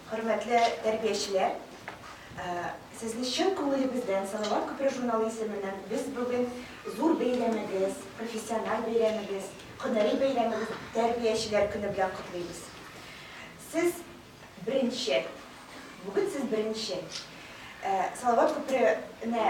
Хөрмәтле тәрбиячеләр, сезне чын күңелебездән Салават күпере журналы исеменнән без бүген зур бәйрәмегез, профессиональ бәйрәмегез, һөнәри бәйрәмегез, Тәрбиячеләр көне белән котлыйбыз. Сез беренче, бүген сез беренче Салават күперенә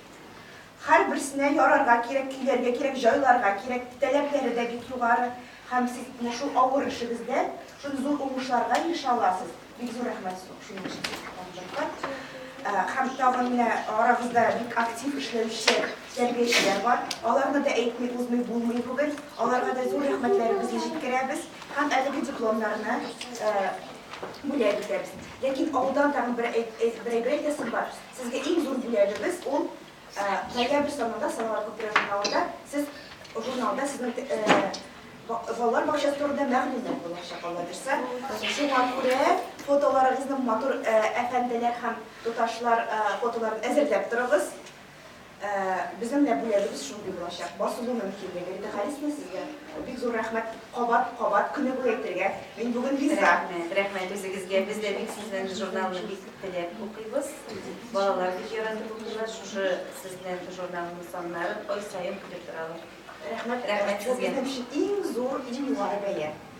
Һәрберсенә ярарга кирәк, көйләргә кирәк, җайларга кирәк. Таләпләре дә бик югары. Һәм сез менә шул авыр эшегездә шундый зур уңышларга ирешә аласыз. Бик зур рәхмәт шуның өчен сезгә табынлыкка. Һәм тагын менә арагызда бик актив эшләүче тәрбиячеләр бар. Аларны да әйтми узмый булмый бүген. Аларга да зур рәхмәтләребезне җиткерәбез. Һәм әлеге дипломнарны бүләк итәбез. Ләкин алдан тагын бер әйбер әйтәсем бар. Сезгә иң зур бүләгебез ул ноябрь санында Самара күпере журналында сез журналда сезнең балалар бакчасы турында мәгълүмат булачак Алла бирсә. Шуңа күрә фотоларыгызны матур әфәнделәр һәм туташлар фотоларын әзерләп торыгыз. Безнең дә бүләгебез шундый булачак, басылу мөмкинлеге. Мөтәхәлисме сезгә бик зур рәхмәт, кабат, кабат, көне буе әйтергә, мин бүген риза. Рәхмәт, рәхмәт үзегезгә. Без дә бик сезнең журналны бик теләп укыйбыз. Балалар бик яратып укыйлар шушы сезнең журналның саннарын ай саен көтеп торалар. Рәхмәт, рәхмәт сезгә. Бу безнең өчен иң зур, иң югары бәя.